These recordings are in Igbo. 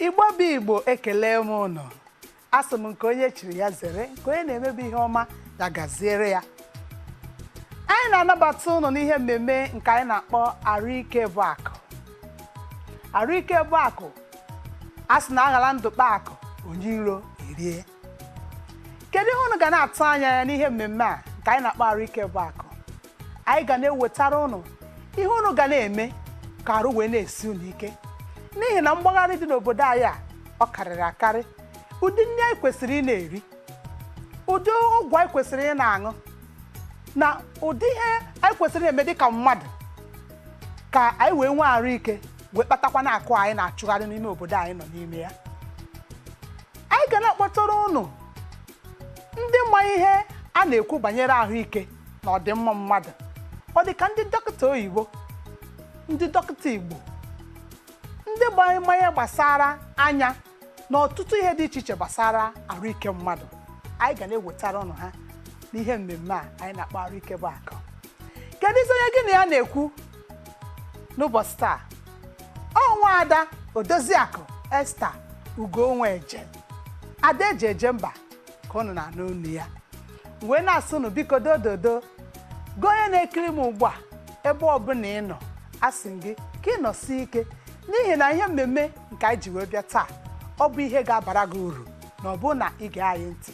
igbo bụ igbo ekelee m ụnụ asị m nke onye chiri ya zere nke onye na-eme bụ ihe ọma ya gaziere ya anyị na-anabata ụnụ n'ihe mmemme nke anyị na-akpọ arụike bụ akụ arụike bụ akụ a sị na aghara ndụ kpaa akụ onye iro erie kedu ihe unu ga na-atụ anya ya n'ihe mmemme a nke anyị na-akpọ arụ ike bụ akụ anyị ga na-ewetara unu ihe unu ga na-eme ka arụ wee na-esi unu ike n'ihi na mgbagharị dị n'obodo anyị a ọ karịrị akarị ụdị nri anyị kwesịrị ị na-eri ụdị ọgwụ anyị kwesịrị ị na-aṅụ na ụdị ihe anyị kwesịrị ị na-eme dị ka mmadụ ka anyị wee nwee arụ ike wee kpatakwanụ akụ anyị na-achụgharị n'ime obodo anyị nọ n'ime ya anyị ga na-akpọtara ụnụ ndị ma ihe a na-ekwu banyere ahụike na ọdịmma mmadụ ọ dị ka ndị dọkịta oyibo ndị dọkịta igbo ndị ma ihe gbasara anya na ọtụtụ ihe dị iche iche gbasara arụike mmadụ anyị ga na-ewetara ụnụ ha n'ihe mmemme a anyị na-akpọ arụike bụ akụ keduzi onye gị na ya na-ekwu n'ụbọchị taa ọ nwa ada odoziakụ esther ugonweje ada eji eje mba ka ụnụ na-anụ onu ya wee na-asị unu biko dododo gị onye na-ekiri m ugbu a ebe ọbụla ị nọ asị m gị ka ị nọsie ike n'ihi na ihe mmemme nke anyị ji wee bịa taa ọ bụ ihe ga-abara gị uru na ọ bụrụ na ị gee anyị ntị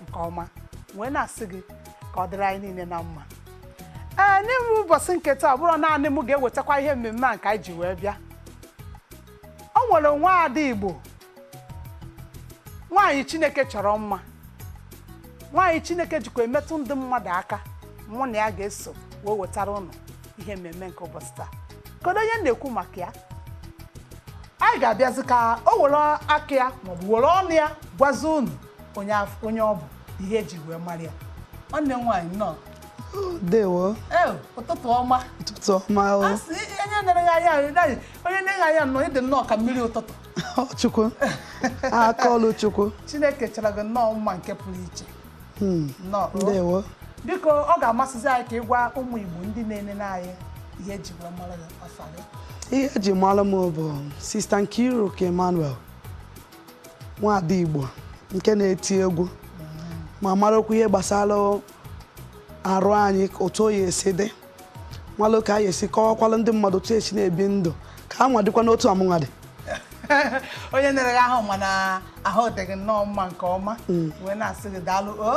nke ọma wee na-asị gị ka ọ dịrị anyị niile na mma ee n'ime ụbọchị nke taa ọ bụrọ naanị m ga-ewetakwa ihe mmemme a nke anyị ji wee bịa o nwere nwa ada igbo nwaanyị chineke chọrọ mma nwaanyị chineke jikwa emetụ ndị mmadụ aka mụ na ya ga-eso wee wetara ụnụ ihe mmemme nke ụbọchị taa kedu onye m na-ekwu maka ya anyị ga-abịazi ka o were aka ya maọbụ were ọnụ ya gwazi unu onye af- onye ọ bụ ihe eji wee mara ya nwanne m nwaanyị nnọọ Ndewo, ee ụtụtụ ọma ụtụtụ ọma o. a sị onye na-ene anya ahụ naghị onye na-ene gị anya nnọọ ị dị nnọọ ka mmiri ụtụtụ Ọ Chukwu, aka ọlụ Chukwu. chineke chọrọ gị nnọọ mma nke pụrụ iche Hmm. ndewo biko ọ ga-amasịzi anyị ka ị gwa ụmụ Igbo ndị na-enene anyị ihe eji wee mara gị afa gị ihe eji mara m bụ sista Nkiruka Emmanuel nwaada Igbo nke na-eti egwu ma marakwa ihe gbasara arụ anyị otu oyi esi dị malụ ka anyị esi kọwakwala ndị mmadụ otu esi na-ebi ndụ ka a nwa dịkwa n'otu a mụnwa dị onye na-ere ahụ ma na ahụ dị gị nnọọ mma nke ọma hmm. wee na-asị gị daalụ o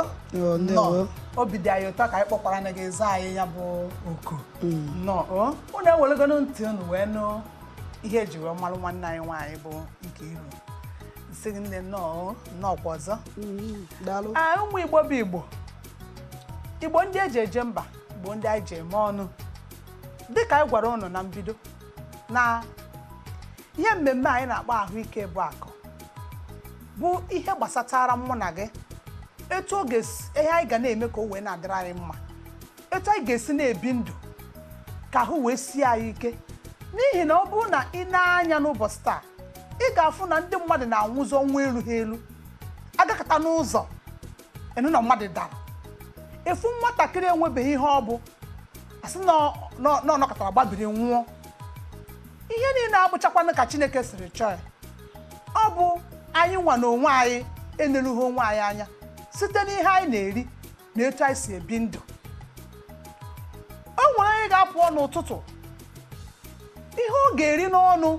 nnọọ obi dị anyị ụtọ ka anyị kpọkwara na gị zaa anyị ya bụ oku hmm. nnọọ o unu ewelegonu ntị unu wee nụ ihe eji wee malụ nwanne anyị nwaanyị bụ nkiru sị gị nne nnọọ nnọọ kwa ọzọ hmm, ụmụ igbo bụ igbo igbo ndị eji eje mba igbo ndị anyị ji eme ọnụ dịka anyị gwara unu na mbido na ihe mmemme anyị na-akpọ ahụike bụ akụ bụ ihe gbasatara mụ na gị etu ihe anyị ga na-eme ka o wee na-adịrị anyị mma etu anyị ga-esi na-ebi ndụ ka ahụ wee sie anyị ike n'ihi na ọ bụrụ na ị nee anya n'ụbọchị taa ị ga-afụ na ndị mmadụ na-anwụzi ọnwụ elughị elu a gakata n'ụzọ ị nụ na mmadụ dara ị fụ nwatakịrị enwebeghị ihe ọ bụ a sị na ọ- na ọ- na ọ nọkatara gbabiri nwụọ ihe niile abụchakwanụ ka chineke siri chọọ ya ọ bụ anyị nwa na onwe anyị enerughị onwe anyị anya site n'ihe anyị na-eri na etu anyị si ebi ndụ o nwere onye ga-apụ n'ụtụtụ ihe ọ ga-eri n'ọnụ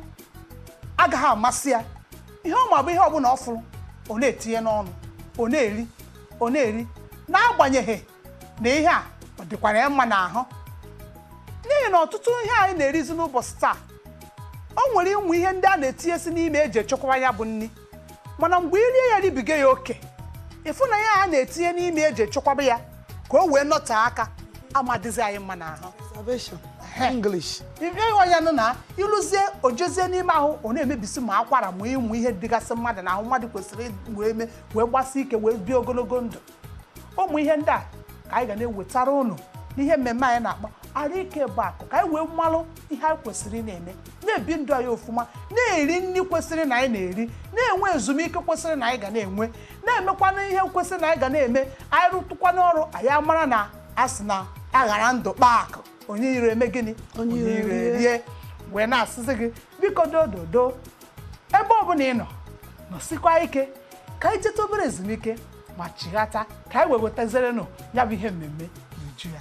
agaghị amasị ya ihe ọ ma bụ ihe ọbụla ọ fụrụ ọ na-etinye n'ọnụ ọ na-eri ọ na-eri n'agbanyeghị na ihe a ọ dịkwara ya mma n'ahụ n'ihi na ọtụtụ ihe anyị na-erizi n'ụbọchị taa o nwere ụmụ ihe ndị a na-etinyesi n'ime eji echekwaba ya bụ nri mana mgbe i rie ya ribiga ya oke ị fụ na ihe a na-etinye n'ime eji echekwaba ya ka o wee nọtee aka amadịzi anyị mma n'ahụ Preservation. English. ị fụ ya nụ na i lozie o jezie n'ime ahụ ọ na-emebisi ma akwara ma ụmụ ihe dịgasị mmadụ n'ahụ mmadụ kwesịrị ịdị wee mee wee gbasie ike wee bie ogologo ndụ ụmụ ihe ndị a ka anyị ga na-ewetara unu n'ihe mmemme anyị na-akpọ arụ ike bụ akụ ka anyị wee malụ ihe anyị kwesịrị ịna-eme na-ebi ndụ anyị ofụma na-eri nri kwesịrị na anyị na-eri na-enwe ezumike kwesịrị na anyị ga na-enwe na-emekwana ihe kwesịrị na anyị ga na-eme anyị rụtụkwanụ ọrụ anyị amara na a sị na a ghara ndụ kpaa akụ onye iro eme gịnị Onye iro erie. wee na-asịzi gị biko dododo ebe ọbụla ị nọ nọsikwa ike ka anyị jeta obere ezumike ma chighata ka anyị wee wetazirenụ ya bụ ihe mmemme n'uju ya